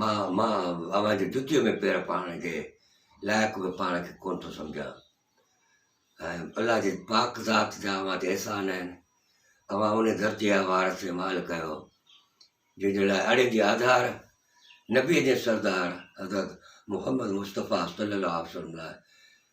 مان مان اوهان جي جتيء ۾ پير پائڻ جي لائق به پاڻ کي ڪونه ٿو سمجهان ۽ الله جي پاڪ ذات جا اوهان تي احسان آهن اوهان ان ڌرتيء جا وارث ۽ مالڪ آهيو جنهن جي لاء اڙين جي آڌار نبيء جي سردار حضرت محمد مصطفيٰ صلي الله عليه وسلم لاء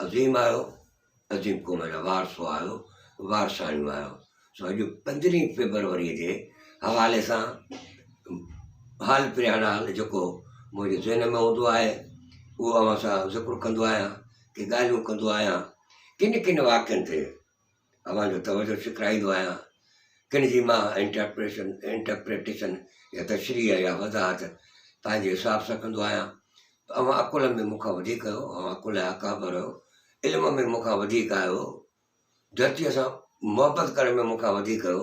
عظيم آهيو، عظيم قوم جا وارثو آهيو، وارثاڻيون آهيو. سو اڄ پندرهين فيبروريء جي حوالي سان حال پريان حال جيڪو منهنجي ذهن ۾ هوندو آهي اهو اوهان سان ذڪر ڪندو آهيان ڪي ڳالهيون ڪندو آهيان ڪن ڪن واقعن تي اوهان جو توجهه ڇڪرائيندو آهيان، ڪن جي مان انٽرپريشن، Interpretation، يا تشريح يا وضاحت پنهنجي حساب سان ڪندو آهيان، ته اوهان عقل ۾ مون کان وڌيڪ آهيو، اوهان عقل جا اڪابر آهيو، علم ۾ مون کان وڌيڪ آهيو، ڌرتيء سان محبت ڪرڻ ۾ مون کان وڌيڪ آهيو،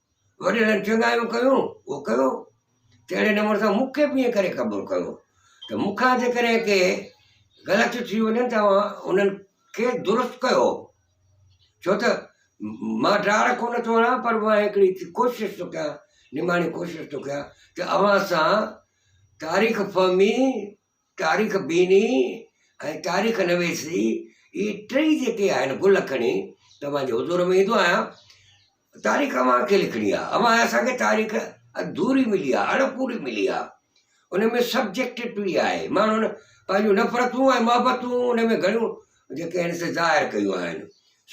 وڏيرن چڱايون ڪيون، اهو ڪيو، ته اهڙي نموني سان مون کي به ائين ڪري قبول ڪيو، ته مون کان جيڪڏهن ڪي غلطيون ٿي وڃن ته اوهان انهن کي درست ڪيو، ڇو ته مان ڊاڙ ڪونه ٿو هڻان پر مان هڪڙي ڪوشش ٿو ڪيان، نماڻي ڪوشش ٿو ڪيان ته اوهان سان تاريخ فهمي تاريخ بيني ۽ تاريخ نويس جي هي ٽئي جيڪي آهن گل کڻي توهان جي حضور ۾ ايندو آهيان تاريخ اوهان کي لکڻي آهي اوهان اسان کي تاريخ اڌوري ملي آهي اڻ پوري ملي آهي ان ۾ سبجيڪٽوٽي آهي ماڻهن پنهنجون نفرتون ۽ محبتون ان ۾ گهڻيون جيڪي آهن سي ظاهر ڪيون آهن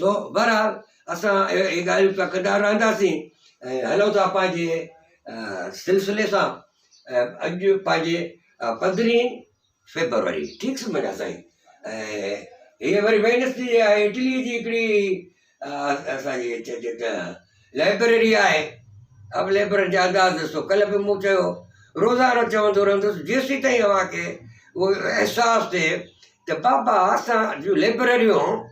سو بهرحال اسان اهي ڳالهيون پيا ڪندا رهنداسين ۽ هلون ٿا پنهنجي سلسلي سان اڄ پنهنجي پندرهين فيبروري ٺيڪ سمجهه سائين هيء وري وينس ڊي آهي اٽلي جي هڪڙي اسانجي چئجي ته لائبريري آهي اب ليبرر جا انداز ڏسو ڪلهه به مون چيو روزانو چوندو رهندس جيسين تائين اوهان کي اهو احساس ٿئي ته بابا اسان جون ليبرريون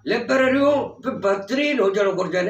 ليبرريون به بهترين هجڻ گهرجن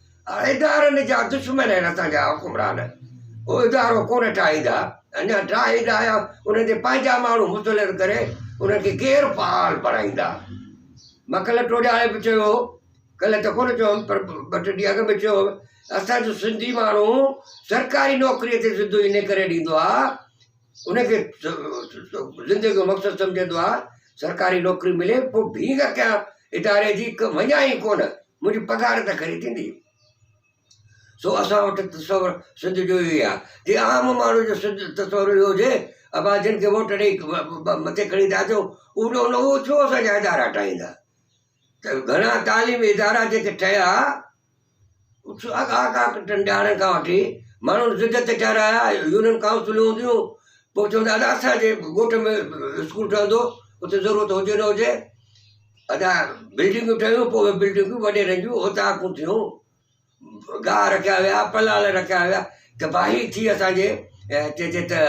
ادارن جا دشمن آهن اسان جا حڪمران هو ادارو ڪونه ٺاهيندا اڃا ٺاهي ته آيا انهن تي پنهنجا ماڻهو مسلط ڪري انهن کي غير فعال بڻائيندا مکل ٽوڏاڻي به چيو ڪلهه ته ڪونه چيو پر ٻه ٽي ڏينهن اڳ به چيو اسانجو سنڌي ماڻهو سرڪاري نوڪري تي سڌو ان ڪري ڏيندو آهي ان کي زندگي جو مقصد سمجهندو آهي سرڪاري نوڪري ملي پوء ڀينگ ڪيان اداري جي وڃان ئي ڪونه منهنجي پگهار ته کري ٿيندي سو اسان وٽ تصور سنڌ جو اهو آ جي عام ماڻهو جو سنڌ تصور اهو هجي ابا جن کي ووٽ ڏئي مٿي کڻي ٿا اچو اهو ڇو اسانجا ادارا ٽاهيندا ته گهڻا تعليمي ادارا جيڪي ٺهيا، اتي اڳا اڳا ٽنڊارن کان وٺي ماڻهن ضد تي ٺهرايا، يونين ڪائونسلون هونديون، پوء چوندو ادا اسانجي ڳوٺ ۾ اسڪول ٺهندو اتي ضرورت هجي نه هجي، ادا بلڊنگون ٺهيون پوء اهي بلڊنگون وڏيرن جون اوطاقون ٿيون، گاهه رکيا ويا پلاڻ رکيا ويا تباهي ٿي اسانجي چئجي ته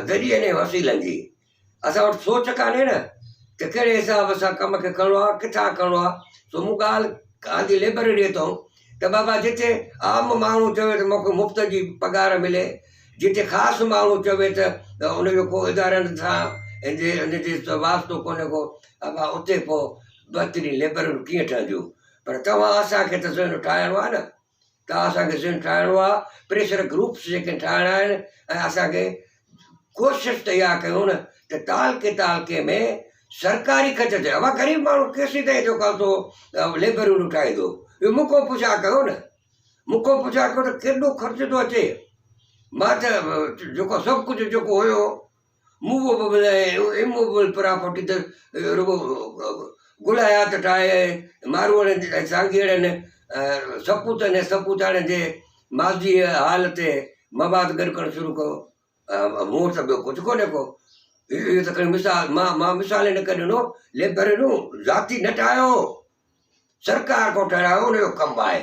ذريعن ۽ وسيلن جي اسان وٽ سوچ ڪانهي نه ته ڪهڙي حساب سان ڪم کي کڻڻو آهي ڪٿان کڻڻو آهي سو مون ڳالهه گانڌي لئبرريء تائون ته بابا جتي عام ماڻهو چوي ته مون کي مفت جي پگهار ملي جتي خاص ماڻهو چوي ته ان جو ڪو ادارن سان ان جي ان جي واسطو ڪونهي ڪو ابا اتي پوء بهترين لئبرريون ڪيئن ٺهنديون پر توهان اسان کي ته ذهن ٺاهڻو آهي نه ته اسان کي ذھن ٺاھڻو آ پريشر گروپس جيڪي ٺاھڻا آھن ۽ اسان کي ڪوشش ته اھا ڪيون نه ته تعلقي تعلقي ۾ سرڪاري خرچ ٿئي اھا غريب ماڻھو ڪي سي تائين جيڪو ٿو ليبر يونين ٺاھيندو اھو مون کان پڇا ڪيو نه مون کان پڇا ڪيو ته ڪيڏو خرچ ٿو اچي مان ته جيڪو سڀ ڪجھه جيڪو ھيو مووبل ۽ امووبل پراپرٽي ته رڳو گل حيات ٽائي ۽ ماروئڙن ۽ سانگيئڙن سپوتن ۽ سپوتاڻين جي ماضيء ۽ حال تي مواد گڏ ڪرڻ شروع ڪيو. مون وٽ ته ٻيو ڪجهه ڪونهي ڪو. اهو ته کڻي مثال. مان مان مثال ان ڪري ڏنو، لئبرريون ذاتي نه ٺاهيو هو. سرڪار ڪو ٺهرايو ان جو ڪم آهي.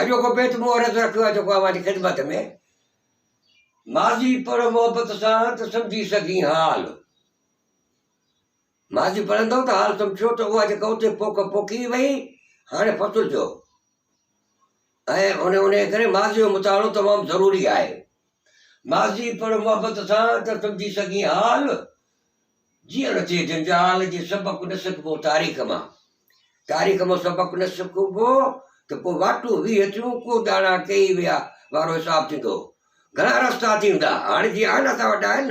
اڄوڪو بيت مون عرض رکيو آهي جيڪو اوهان جي خدمت ۾. ماضي پڙهه محبت سان ته سمجهي سگهين حال. ماضي پڙهندؤ ته حال سمجهو ته اها جيڪا اتي پوک پوکي وئي هاڻي فصل جو ۽ ان ڪري ماضي جو مطالعو تمام ضروري آهي. ماضي پڙهه محبت سان ته سمجهي سگهين حال. جيئڻ جي جنجال جي سبق نه سکبو تاريخ مان، تاريخ مان سبق نه سکبو ته پوء واٽون ويهه ٿيون ڪو ڄاڻا ڪيئي ويا وارو حساب ٿيندو. گهڻا رستا ٿيندا هاڻ جي آهن اسان وٽ آهن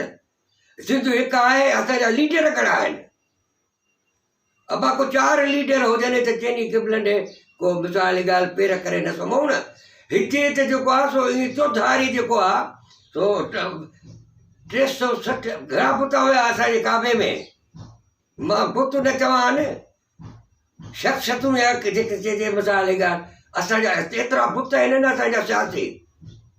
سنڌ هڪ آهي اسان جا ليڊر گهڻا آهن. ابا ڪو چار ليڊر هجن هت چيني قبلن ڏي ڪو مثالي ڳالهه پير ڪري نه سمهون نه هتي هت جيڪو آ سو ايئن چوڌاري جيڪو آ سو ٽي سو سٺ گهرا بت هيا اسان جي ڪعبي ۾ مان بت نه چوان شخ شتون يا جيڪي چئجي مثالي ڳالهه اسان جا ايترا بت آهن نه اسان جا سياسي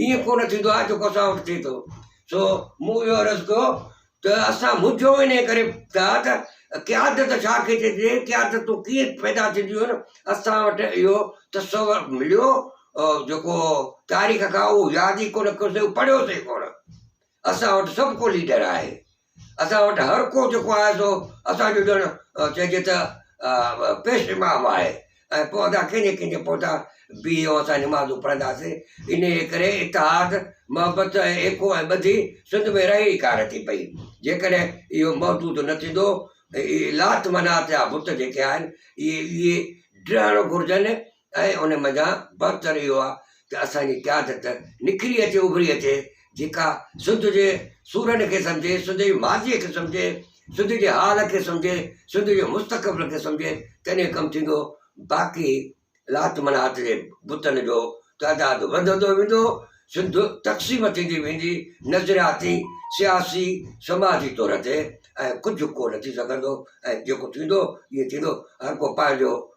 ائين ڪو نه ٿيندو آهي جيڪو اسان وٽ ٿئي ٿو سو مون اهو عرض ڪيو ته اسان منجهيو انهيء ڪري ٿا ته قيادت ڇا کي چئجي قيادتون ڪيئن پيدا ٿينديون آهن اسان وٽ اهو تصور مليو جيڪو تاريخ کان اهو ياد ئي ڪو نه ڪيوسي پڙهيوسي ڪونه اسان وٽ سڀ ڪو ليڊر آهي، اسان وٽ هر ڪو جيڪو آهي سو اسان جو ڄڻ چئجي ته پيش امام آهي ۽ پوء اسان ڪنهن جي ڪنهن جي پوئتان بيهي ۽ اسان نمازون پڙهنداسين، انهيء ڪري اتحاد، محبت ۽ ايڪو ۽ ٻڌي سنڌ ۾ رهي ئي ڪانه ٿي پئي، جيڪڏهن اهو محدود نه ٿيندو ته اهي لات منات جا بت جيڪي آهن اهي ڊهڻ گهرجن ۽ ان منجهان بهتر اهو آهي ته اسان جي قيادت نکري اچي اڀري اچي جيڪا سنڌ جي سورن کي سمجهي سنڌ جي ماضي کي سمجهي سنڌ جي حال کي سمجهي سنڌ جي مستقبل کي سمجهي تڏهن ڪم ٿيندو باقي لات منات جي بتن جو تعداد وڌندو ويندو سنڌ تقسيم ٿيندي ويندي نظرياتي سياسي سماجي طور تي ۽ ڪجهه ڪو نه ٿي سگهندو ۽ جيڪو ٿيندو ائين ٿيندو هر ڪو پنهنجو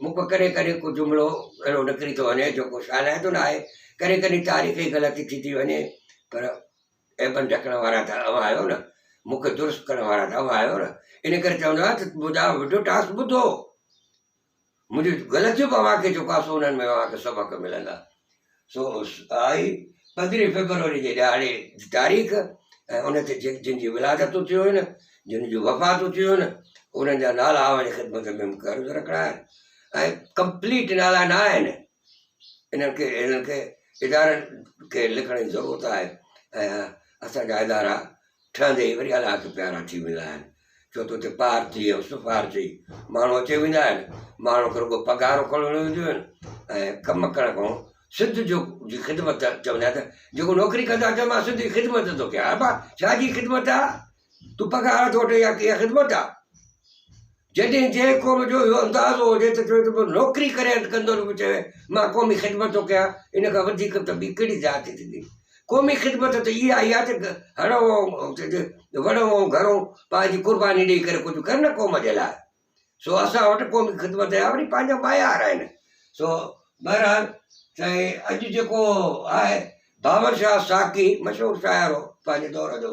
مون کان ڪڏهن ڪڏهن ڪو جملو اهڙو نڪري ٿو وڃي جيڪو شالائتو نه آهي، ڪڏهن ڪڏهن تاريخ ئي غلط ٿي ٿي وڃي، پر عيبن ڍڪڻ وارا ته اوهان آهيو نه، مون کي درست ڪرڻ وارا ته اوهان آهيو نه، ان ڪري چوندو آهيان ته مداح وڊيو ٽاسڪ ٻڌو، منهنجون غلطيون به اوهان کي چڪاسو انهن ۾ اوهان کي سبق ملندا. سو آهي پندرهين فيبروري جي ڏهاڙي جي تاريخ ۽ ان تي جن جي ولادتون ٿيون هيون جن جون وفاتون ٿيون هيون انهن جا نالا اوهان جي خدمت ۾ مونکي عرض رکڻا آهن ۽ ڪمپليٽ نالا نه آهن انهن کي انهن کي ادارن کي لکڻ جي ضرورت آهي ۽ اسان جا ادارا ٺهندي وري الله کي پيارا ٿي ويندا آهن ڇو ته اتي پارٽي ۽ حسن پار چئي ماڻهو اچي ويندا آهن ماڻهو کي رڳو پگهارو کڻڻ وينديون آهن ۽ ڪم ڪرڻ کان سنڌ جو جي خدمت چوندا آهن ته جيڪو نوڪري ڪندا چئه مان سنڌ جي خدمت ٿو ڪيان ابا ڇا جي خدمت آ تون پگهار ٿو وٺي يا ڪيئن خدمت آ جڏهن جنهن قوم جو اهو اندازو هجي ته چوي ته پوء نوڪري ڪري انت ڪندو ته پوء چوي مان قومي خدمت ٿو ڪيان، ان کان وڌيڪ ته ٻي ڪهڙي زيادتي ٿيندي؟ قومي خدمت ته اها ئي آهي ته هڙئون ۽ چئجي وڙئون ۽ گهرئون پنهنجي قرباني ڏئي ڪري ڪجهه ڪر نه قوم جي لاء. سو اسان وٽ قومي خدمت جا وري پنهنجا معيار آهن. سو بهرحال سائين اڄ جيڪو آهي باورشاهه ساقي مشهور شاعر هو پنهنجي دور جو.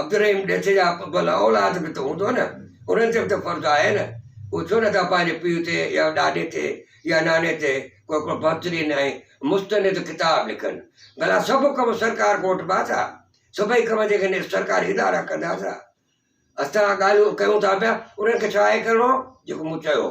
عبدالرحيم ڏيٿ جا ڀلا اولاد به ته هوندؤ نه، انهن تي به ته فرض آهي نه، هو ڇو نه ٿا پنهنجي پيء تي يا ڏاڏي تي يا ناني تي ڪو هڪڙو بهترين ۽ مستند ڪتاب لکن. ڀلا سڀ ڪم سرڪار کان وٺبا ٿا؟ سڀئي ڪم جيڪڏهن سرڪاري ادارا ڪندا ته اسان ڳالهيون ڪيون ٿا پيا انهن کي ڇا اهي ڪرڻو هو جيڪو مون چيو هو؟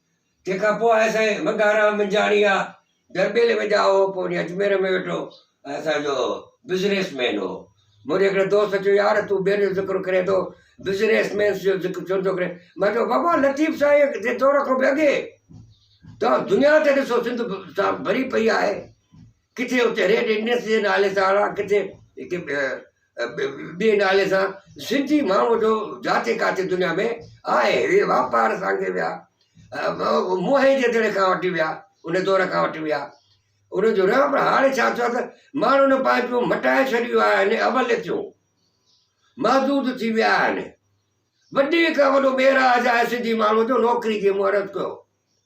تنهن کان پوء آهي سائين منگهارام منجهاڻي آ درٻيلي ۾ ڄائو هو پوء وڃي اجمير ۾ ويٺو آهي اسان جو بزنيس مين هو منهنجي هڪڙي دوست چيو يار تون ٻين جو ذڪر ڪرين ٿو بزنيس مينس جو ذڪر ڇو نٿو ڪرين مان چيو بابا لطيف سائين جي دور کان به اڳي توهان دنيا تي ڏسو سنڌ سان ڀري پئي آهي ڪٿي اتي ريڊ انڊيس جي نالي سان اڻا ڪٿي ٻئي نالي سان سنڌي ماڻهو جو جاٿي ڪاٿي دنيا ۾ آهي اهي واپار سانگي ويا موهي جي دڙي کان وٺي ويا ان دور کان وٺي ويا ان جو رهڻ پر هاڻي ڇا ٿيو آهي ته ماڻهن پنهنجو مٽائي ڇڏيو آهي ان اول ٿيو محدود ٿي ويا آهن وڏي کان وڏو ميراج آهي سنڌي ماڻهو جو نوڪري جي مهرت ڪيو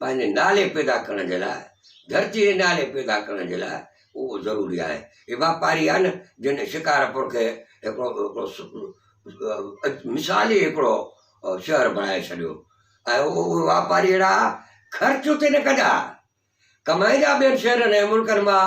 پنهنجي نالي پيدا ڪرڻ جي لاء ڌرتي جي نالي پيدا ڪرڻ جي لاء اهو ضروري آهي هي واپاري آهي نه جن شڪارپور کي هڪڙو هڪڙو مثال ئي هڪڙو شهر بڻائي ڇڏيو ۽ اهو اهي واپاري اهڙا خرچ اتي نه ڪندا ڪمائيندا ٻين شهرن ۽ ملڪن مان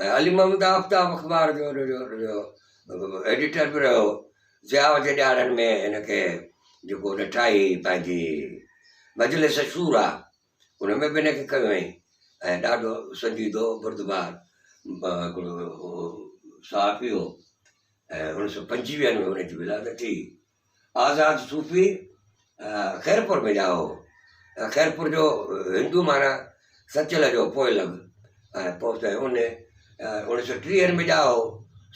۽ علي محمد آفتاب اخبار جو ايڊيٽر به رهيو ضياء جي ڏهاڙن ۾ هن کي جيڪو هن ٺاهي پنهنجي مجلس شورا ان ۾ به هن کي کنيو هئائين ۽ ڏاڍو سنجيدو بردبار هڪڙو صحافي هو ۽ اڻ سؤ پنجويهن ۾ هن جي ولادت ٿي آزاد صوفي خيرپور ۾ ڄائو هو. خيرپور جو هندو مانا سچل جو پوئلڳ ۽ پوء ته ان اوڻيھ سؤ ٽيهن ۾ ڄائو هو.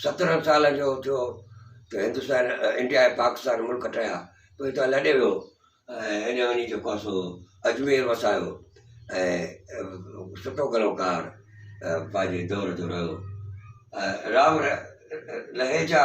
سترهن سالن جو ٿيو ته هندستان انڊيا ۽ پاڪستان ملڪ ٺهيا. پوء هتان لڏي ويو ۽ ان وڃي جيڪو آهي سو اجمير وسايو ۽ سٺو گلوڪار پنهنجي دور جو رهيو. راء لهيجا.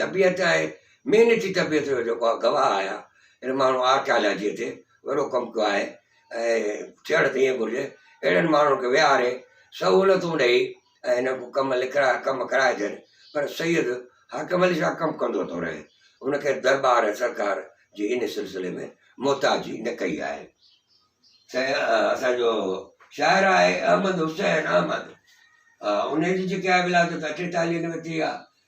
طبيعت آهي، محنتي طبيعت جو جيڪو آهي گواهه آهيان، هن ماڻهو آرڪيالاجيء تي وڏو ڪم ڪيو آهي ۽ ٿيڻ ته ائين گهرجي، اهڙن ماڻهن کي ويهاري سهولتون ڏئي ۽ هن کان ڪم لکرا ڪم ڪرائجن، پر سيد حاڪم علي شاهه ڪم ڪندو ٿو رهي، هن ڪنهن درٻار ۽ سرڪار جي ان سلسلي ۾ محتاجي نه ڪئي آهي. سائين اسان جو شاعر آهي احمد حسين احمد، انهيء جي جيڪي آهي ولادت اٺيتاليهن ۾ ٿي آهي،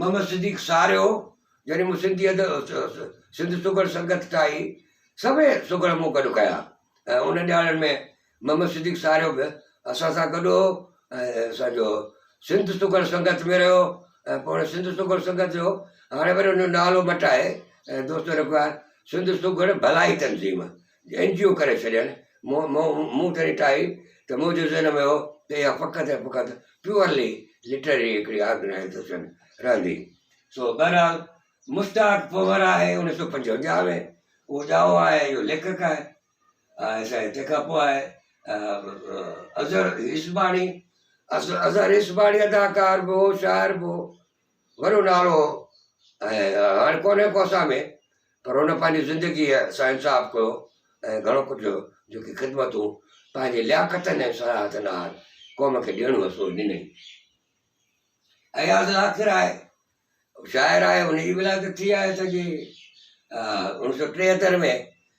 محمد صديق ساريو جڏهن مون سنڌي ادب سنڌ سگهڙ سنگت ٺاهي، سڀئي سگهڙ مون گڏ ڪيا ۽ انهن ڏهاڙن ۾ محمد صديق ساريو به اسان سان گڏ هو ۽ اسان جو سنڌ سگهڙ سنگت ۾ رهيو ۽ پوء هن سنڌ سگهڙ سنگت جو هاڻي وري ان جو نالو مٽائي ۽ دوستو رکيو آهي سنڌ سگهڙ ڀلائي تنظيم اين جي او ڪري ڇڏين. مون تڏهن ٽائي ته منهنجي ذهن ۾ هو ته اها فقط ۽ فقط پيورلي لٽرري هڪڙي آرگنائيزيشن رهندي. سو بهرحال مشتاق پنهور آهي انيس سئو پنجونجاهه ۾ اهو ڄائو آهي اهو ليکڪ آهي ۽ سائين تنهن کان پوء آهي اظهر عيسباڻي اظهر عيسباڻي اداڪار به هو شاعر به هو. وڏو نالو هو ۽ هاڻي ڪونهي ڪو اسان ۾ پر هن پنهنجي زندگيء سان انصاف ڪيو ۽ گهڻو ڪجهه جيڪي خدمتون پنهنجي لياقتن ۽ صلاحتن آهر قوم کي ڏيڻو هو سو ڏنئي. اياز لاکر آهي شاعر آهي ان جي ولادت ٿي آهي سڄي اڻ سؤ ٽيهتر ۾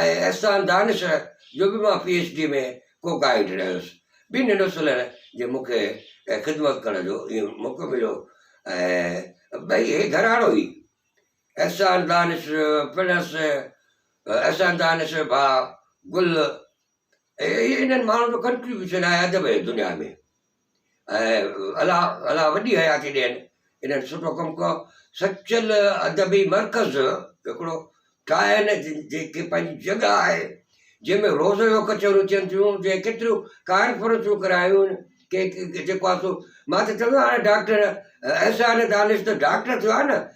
۽ احسان دانش جو به مان پي ايڇ ڊي ۾ ڪو گائيڊ رهيس. ٻنهي ننڍو سلهڻ جي مون کي خدمت ڪرڻ جو اهو موقعو مليو ۽ ٻئي هي گهراڻو ئي احسان دانش پڻس احسان دانش جو ڀاء گل هي انهن ماڻهن جو ڪنٽريبيوشن آهي ادب جي دنيا ۾. ۽ الله الله وڏي حياتي ڏين انهن سٺو ڪم ڪيو سچل ادبي مرڪز هڪڙو ٺاهن جيڪي پنهنجي جڳهه آهي جنهن ۾ روز جو ڪچهريون ٿين ٿيون جنهن ڪيتريون ڪانفرنسون ڪرايون ڪي جيڪو آهي سو مان ته چوندو آهيان هاڻي ڊاڪٽر احسان دانش ته ڊاڪٽر ٿيو آهي نه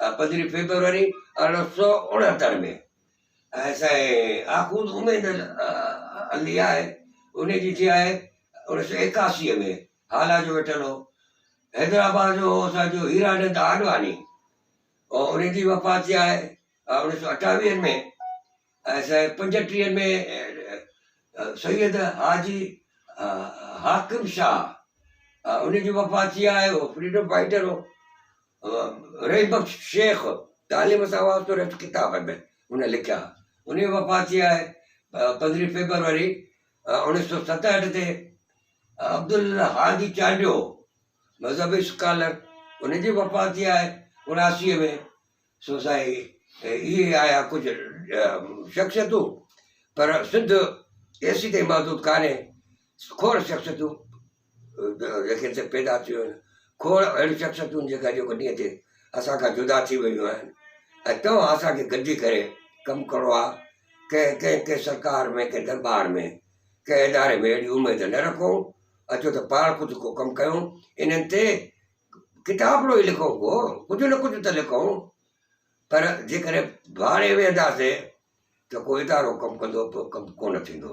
پندرهين فيبروري ارڙهن سؤ اڻهتر ۾ ۽ سائين آخوند اميد علي آهي ان جي ٿي آهي اڻيهه سؤ ايڪاسي ۾ هالا جو ويٺل هو حيدرآباد جو اسانجو هيرانند آڏواني ان جي وفات ٿي آهي اڻيهه سؤ اٺاويهن ۾ ۽ سائين پنجٽيهن ۾ سيد حاجي حاڪم شاهه ان جي وفات ٿي آهي هو فريڊم فائٽر هو رحيم بخش شيخ تعليم سان وابستو رهيو ته ڪتاب ۾ هن لکيا. هن جي وفات ٿي آهي پندرهين فيبروري اوڻيهه سؤ ستهٺ تي. عبدالهادي چانڊيو مذهبي اسڪالر ان جي وفات ٿي آهي اڻاسي ۾ سو سائين اهي آيا ڪجهه شخصيتون پر سنڌ ايسي تائين محدود ڪانهي کور شخصيتون ليکين سان پيدا ٿيون آهن، کوڙ اهڙيون شخصيتون جيڪي اڄوڪي ڏينهن تي اسان کان جدا ٿي ويون آهن ۽ توهان اسان کي گڏجي ڪري ڪم ڪرڻو آهي، ڪنهن ڪنهن ڪنهن سرڪار ۾ ڪنهن درٻار ۾ ڪنهن اداري ۾ اهڙي اميد نه رکو اچو ته پاڻ خود ڪو ڪم ڪيون انهن تي ڪتابڙو ئي لکون ڪو ڪجهه نه ڪجهه ته لکون پر جيڪڏهن ڀاڙي ويهنداسين ته ڪو ادارو ڪم ڪندو ڪم ڪونه ٿيندو.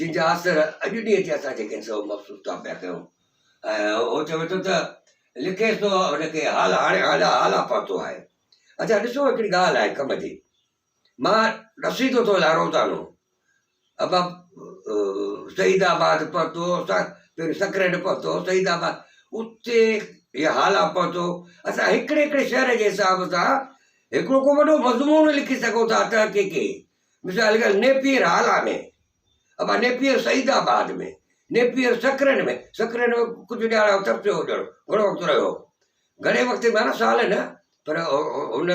جن جا آثر اڄ ڏينهن تي اسان جيڪي سو محسوس ڪا پيا ڪيون ۽ هو چوي ٿو ته لکي سو هن کي حال هاڻي هالا هالا پاتو آهي اچا ڏسو هڪڙي ڳالهه آهي ڪم جي مان رسيدو ٿو لارو تانو ابا سعيد آباد پهتو پھريون سڪريٽ پهتو سعيد آباد اتي هي حالا پهتو اسان هڪڙي هڪڙي شهر جي حساب سان هڪڙو ڪو وڏو مضمون لکي سگهون ٿا تحقيقي مثال ڳالهه نيپيئر هالا ۾ ابا Napier Saeedabad ۾ Napier Sakrand ۾ Sakrand ۾ ڪجهه ڏهاڙا اتر ٿيو هجڻ گهڻو وقت رهيو هو گهڻي وقت معنيٰ سال نه پر هن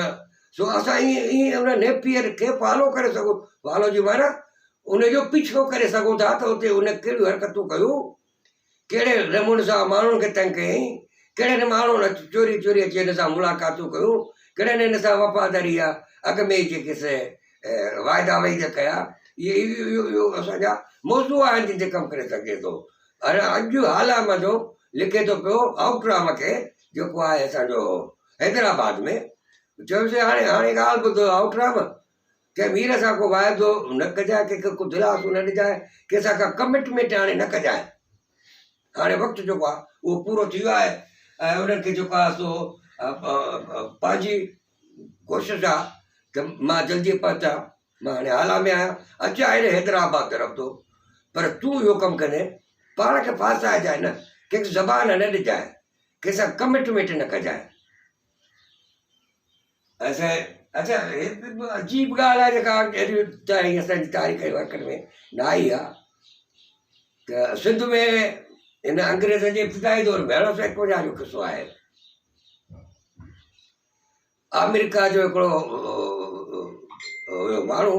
سو اسان ائين ائين هن نيپيئر کي فالو ڪري سگهون فالو جي معنيٰ ان جو پيڇو ڪري سگهون ٿا ته اتي هن ڪهڙيون حرڪتون ڪيون ڪهڙي نموني سان ماڻهن کي تنگ ڪيائين، ڪهڙن هن ماڻهن اچي چوري چوري اچي هن سان ملاقاتون ڪيون، ڪهڙن هن سان وفاداري جا اڳ ۾ ئي جيڪي سي واعدا وعيد ڪيا، اهي اهي اهي اسان جا موضوع آهن جن تي ڪم ڪري سگهجي ٿو. هر اڄ حال مان جو لکي ٿو پيو آئوٽ رام کي جيڪو آهي اسان جو حيدرآباد ۾ چيو سي هاڻي هاڻي ڳالهه ٻڌو آئوٽ رام، ڪنهن وير سان ڪو واعدو نه ڪجانء، ڪنهن کي ڪو دلاسو نه ڏجانء، ڪنهن سان ڪا ڪمٽمينٽ هاڻي نه ڪجانء. هاڻي وقت جيڪو آهي اهو پورو ٿي ويو آهي ۽ انهن کي جيڪو آهي سو پنهنجي ڪوشش آهي ته مان جلدي پهچان، مان هاڻي هالا ۾ آهيان، اچان هيڏي حيدرآباد طرف ٿو، پر تون اهو ڪم ڪندين پاڻ کي ڦاسائجانء نه، ڪنهن کي زبان نه ڏجانء، ڪنهن سان ڪمٽمينٽ نه ڪجانء. اچا اچا عجيب ڳالهه آهي جيڪا اهڙي تاريخ اسان تاريخ جي ورقن ۾ نه آئي آ ته سنڌ ۾ هن انگريز جي ابتدائي دور ۾ ارڙهن سو اڪوجا جو قصو آهي آمريڪا جو هڪڙو هيو ماڻهو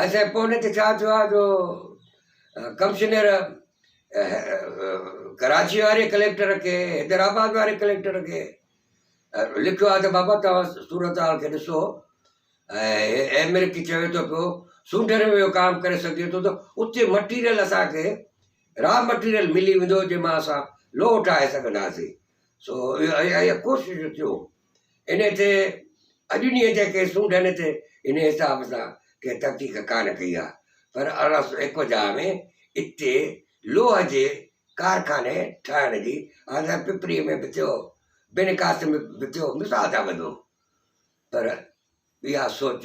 اسين پوء نھ تھ ڇا ٿيو آھي جو ڪمشنر ڪراچيء واري ڪليڪٽر کي حيدرآباد واري ڪليڪٽر کي لکيو آھي تھ بابا توھان صورتحال کي ڏسو ۽ ايم ايل اي کي چوي ٿو پيو سونڊن ۾ اھو ڪام ڪري سگھجي ٿو تھ اتي مٽيريل اسانکي را مٽيريل ملي ويندو جنھن مان اسان لوھ ٺاھي سگھنداسين سو اھا اھا ڪوشش ٿيو انهيء تي اڄ ڏينهن جي ڪي سونڍن تي هن حساب سان ڪنهن تحقيق ڪانه ڪئي آهي، پر ارڙهن سؤ ايڪونجاهه ۾ اتي لوهه جي ڪارخاني ٺاهڻ جي آديس پپريء ۾ به ٿيو، بنڪاس ۾ به ٿيو، مثال ٿا ٻڌون، پر اها سوچ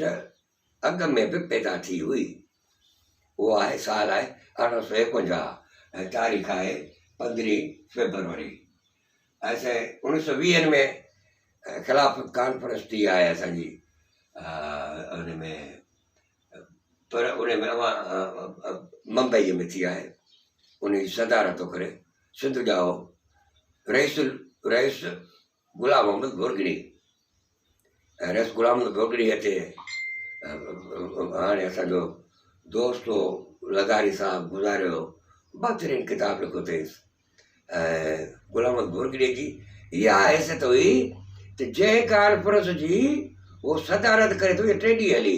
اڳ ۾ به پيدا ٿي هئي. اهو آهي سال آهي ارڙهن سؤ ايڪونجاهه ۽ تاريخ آهي پندرهين فيبروري ۽ سين اوڻيهه سؤ ويهن ۾ خلافت ڪانفرنس ٿي آهي اسان جي ان ۾ پر ان ۾ اوهان ممبئيء ۾ ٿي آهي ان جي صدارت ٿو ڪري سنڌ ڄائو رئيس رئيس غلام محمد بورگڙي ۽ رئيس غلام محمد بورگڙي هتي هاڻي اسان جو دوست هو لغاري صاحب گذاريو هو بهترين ڪتاب لکيو اٿئي ۽ غلام محمد بورگڙي جي اها حيثيت هئي ته جنهن ڪانفرنس جي هو صدارت ڪري ٿو ٽي ڏينهن هلي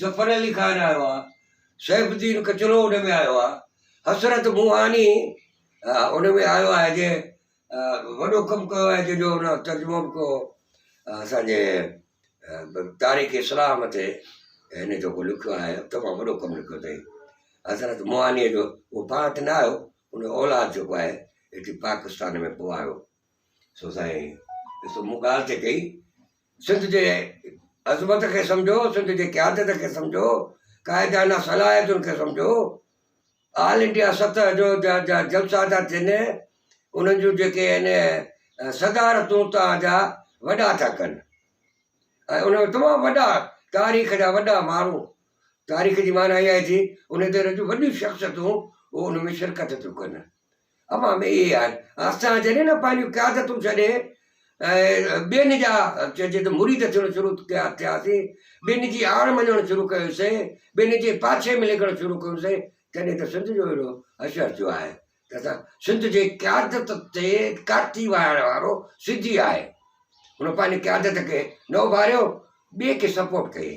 ظفر علي خان آيو آ، سيف الدين ڪچلو ان ۾ آيو آ، حسرت موهاني ان ۾ آيو آهي جنهن وڏو ڪم ڪيو آهي جنهن جو ان ترجمو به ڪيو هو اسان جي تاريخ اسلام تي هن جيڪو لکيو آهي تمام وڏو ڪم لکيو اٿئي حسرت موهانيء جو هو پاڻ ته نه آيو ان جو اولاد جيڪو آهي هتي پاڪستان ۾ پوء آيو سو سائين ڏسو مون ڳالهه ته ڪئي سنڌ جي عظمت کي سمجهو، سنڌ جي قيادت کي سمجهو، قائدانه صلاحيتن کي سمجهو، آل انڊيا سطح جو جا جا جلسا ٿا ٿين انهن جون جيڪي آهن صدارتون توهان جا وڏا ٿا ڪن ۽ ان ۾ تمام وڏا تاريخ جا وڏا ماڻهو تاريخ جي معنيٰ اها ٿي ان دور جون وڏيون شخصيتون ان ۾ شرڪت ٿيون ڪن امان ۾ اهي آهن. اسان جڏهن نه پنهنجون قيادتون ڇڏي ٻين جا چئجي ته مريد ٿيڻ شروع ڪيا ٿياسين، ٻين جي آڙ مڃڻ شروع ڪيوسين، ٻين جي پاڇي ۾ ليکڻ شروع ڪيوسين، تڏهن ته سنڌ جو اهڙو حشر ٿيو آهي ته اسان سنڌ جي قيادت تي ڪاٺي وهائڻ وارو سڌي آهي، هن پنهنجي قيادت کي نه اڀاريو، ٻئي کي سپورٽ ڪيئي.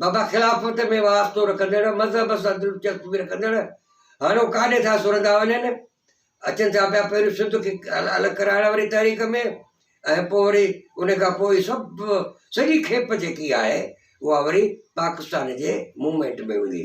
بابا خلافت ۾ واسطو رکندڙ، مذهب سان دلچسپي رکندڙ، هاڻو ڪاڏي ٿا سرندا وڃن؟ اچن ٿا پيا پهريون سنڌ کي الڳ ڪرائڻ واري تحريڪ ۾ ۽ پوء وري ان کان پوء هي سڀ سڄي کيپ جيڪي آهي اها وري پاڪستان جي موومينٽ ۾ هوندي.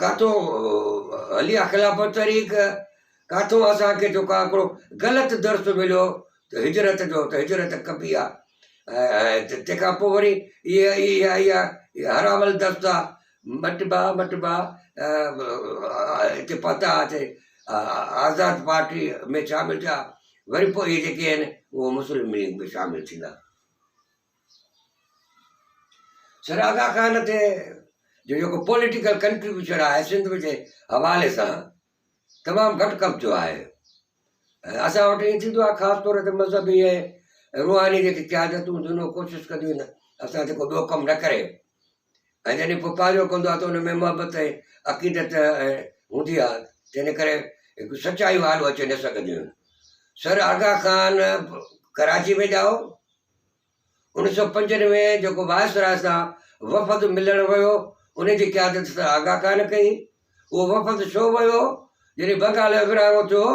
ڪاٿو هلي آ خلافت طريق، ڪاٿو اسان کي جيڪو آ هڪڙو غلط درس مليو ته هجرت جو ته هجرت ڪبي آ ۽ تنهن کان پوء وري اها اها اها حرام الدست آ مٽبا مٽبا هتي پهتا هٿي آزاد پارٽي ۾ شامل ٿيا وري پوء اهي جيڪي آهن اهي مسلم ليگ ۾ شامل ٿيندا. سر آغا خان تي جو جيڪو پوليٽيڪل ڪنٽريبيوشن آهي سنڌ جي حوالي سان تمام گهٽ قبضو آهي ۽ اسان وٽ ائين ٿيندو آهي خاص طور تي مذهبي ۽ روحاني جيڪي قيادتون هونديون آهن اهي ڪوشش ڪنديون آهن اسان جيڪو ٻيو ڪم نه ڪري ۽ جڏهن پوء پنهنجو ڪندو آهي ته ان ۾ محبت ۽ عقيدت ۽ هوندي آهي تنهن ڪري هڪ سچايون آڏو اچي نه سگهنديون آهن سر آغا خان ڪراچي ۾ ڄائو انهن سو پنجن ۾ جيڪو وائسراء سان وفد ملڻ ويو، ان جي قيادت سر آغا خان ڪئي. اهو وفد ڇو ويو؟ جڏهن بنگال جو ورهاڱو ٿيو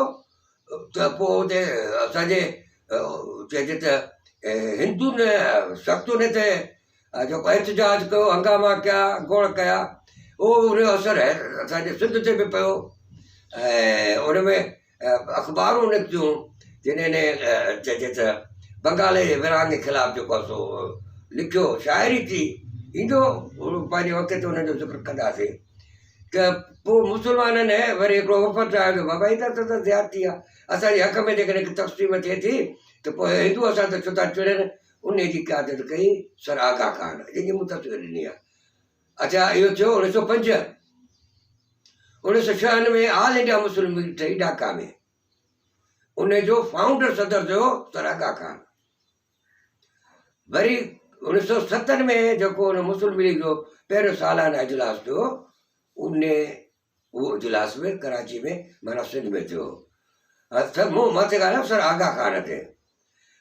ته پوء اتي اسان جي چئجي ته هندن سخت ان تي جيڪو احتجاج ڪيو، هنگاما ڪيا، گوڙ ڪيا، اهو ان جو اثر اسان جي سنڌ تي به پيو ۽ ان ۾ اخبارون نڪتيون جنهن ني چئجي ته بنگالي جي ورهاڱي خلاف جيڪو سو لکيو شاعري ٿي ايندو پنهنجي وقت تي ان جو ذڪر ڪنداسي ته پوء مسلمانن ۾ وري هڪڙو وفد آيو جو بابا هي ته اسان سان زيادتي آ اسان جي حق ۾ جيڪڏهن ڪي تقسيم ٿئي ٿي ته پوء هندو اسان تي ڇو ٿا چڙن انهي جي قيادت ڪئي سر آغا خان جنهن جي مون تصوير ڏني آ اچا اهو ٿيو اوڻيھ سؤ پنج. اوڻيھ سؤ ڇهن ۾ آل انڊيا مسلم ليگ ٺهي ڍاڪا ۾، ان جو فائونڊر صدر ٿيو سر آغا خان. وري اوڻيھ سؤ ستن ۾ جيڪو ان مسلم ليگ جو پهريون سالانه اجلاس ٿيو ان اهو اجلاس به ڪراچي ۾ معنيٰ سنڌ ۾ ٿيو هو مون مٿي ڳالهايو سر آغا خان کي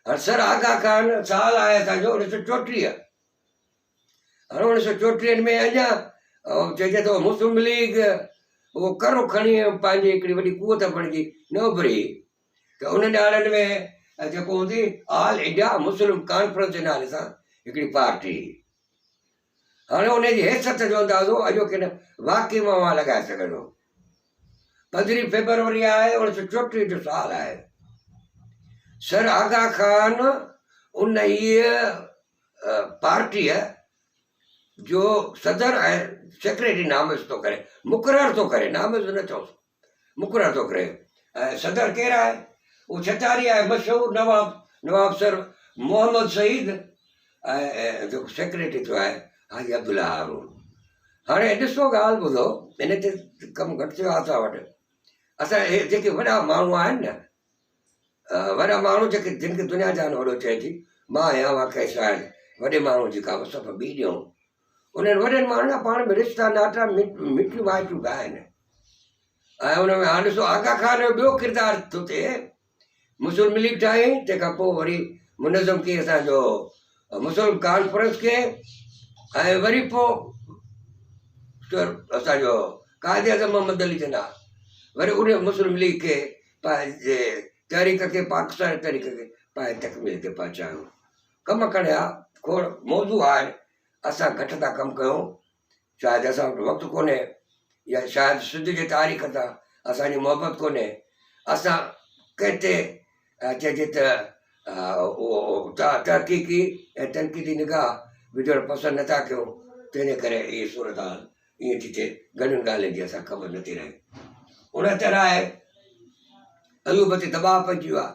هر سر آغا خان سال آهي اسانجو اوڻيھ سؤ چوٽيهه اوڻيھ سؤ چوٽيهن ۾ اڃا چئجي ٿو مسلم ليگ اهو ڪرو کڻي پنهنجي هڪڙي وڏي قوت بڻجي نه اڀري ته ان ڏهاڙن ۾ جيڪو هوندي آل انڊيا مسلم ڪانفرنس جي نالي سان هڪڙي پارٽي هاڻي ان جي حيثيت جو اندازو اڄو کين واقعي مان اوهان لڳائي سگهندو پندرهين فيبروري آهي اوڻيھ سؤ چوٽيهه جو سال آهي سر آغا خان ان پارٽيء جو صدر ۽ سيڪريٽري نامزد ٿو ڪري، مقرر ٿو ڪري، نامزد نه چئوس، مقرر ٿو ڪري ۽ صدر ڪير آهي؟ اهو ڇتاري آهي، مشهور نواب، نواب سر محمد سعيد ۽ جيڪو سيڪريٽري ٿيو آهي حاجي عبدالله هارون. هاڻي ڏسو ڳالهه ٻڌو، ان تي ڪم گهٽ ٿيو آهي اسان وٽ، اسان جي جيڪي وڏا ماڻهو آهن نه، وڏا ماڻهو جيڪي جن کي دنيا جهان وڏو چئي ٿي، مان آهيان اها ڪنهن شاعر، وڏي ماڻهوء جي ڪا وصف ٻي ڏيون. انهن وڏن ماڻهن جا پاڻ ۾ رشتا ناتا، مٽيون مائٽيون به آهن. ۽ ان ۾ هاڻ ڏسو آغا خان جو ٻيو ڪردار ٿو ٿئي، مسلم ليگ ٺاهيائين، تنهن کان پوء وري منظم ڪيس جو مسلم ڪانفرنس کي ۽ وري پو اسان جو قائد اعظم محمد علي جناح وري ان مسلم ليگ کي پنهنجي تحريڪ کي پاڪستان تحريڪ کي پنهنجي تڪميل تي پهچايو ڪم ڪڙيا کوڙ موضوع آهن اسان گهٽ ٿا ڪم ڪيون شايد اسان وٽ وقت ڪونهي يا شايد سنڌ جي تاريخ سان اسانجي محبت ڪونهي اسان ڪنهن تي چئجي ته تحقيقي ۽ تنقيدي نگاهه وجهڻ پسند نٿا ڪيون تنهنجي ڪري هي صورت حال ائين ٿي ٿئي گهڻين ڳالهين جي اسانکي خبر نٿي رهي ان طرح ايوب تي دٻاء پئجي ويو آهي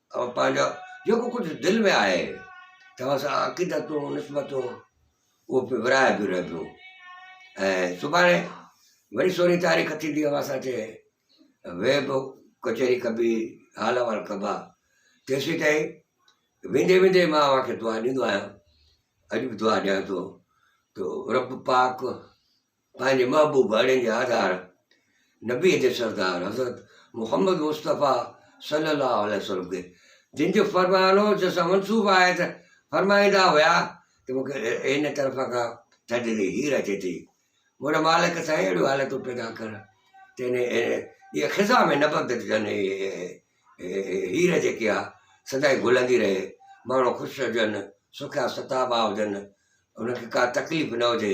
اوهان پنهنجا جيڪو ڪجهه دل ۾ آهي توهان سان عقيدتون نسبتون اهو پي ورهايبيون رهبيون ۽ سڀاڻي وري سورهين تاريخ ٿيندي اوهان سان چي ويب ڪچهري ڪبي حال احوال ڪبا تيسين تائين ويندي ويندي مان اوهان کي دعا ڏيندو آهيان اڄ به دعا ڏيان ٿو تو رب پاڪ پنهنجي محبوب ڀائڙن جي آڌار نبيء جي سردار حضرت محمد مصطفيٰ صلّي الله عليه وسلّم کي جن جو فرمان هو جس سان منسوب آهي ته فرمائيندا هيا ته مون کي هن طرفان ڪا ٿڌڙي هير اچي ٿي منهنجا مالڪ سائين اهڙيون حالتون پيدا ڪر ته ان جي خزان ۾ نبض جن هير جيڪي آ سدائين گهلندي رهي ماڻهو خوش هجن سکيا ستابا هجن انهن کي ڪا تڪليف نه هجي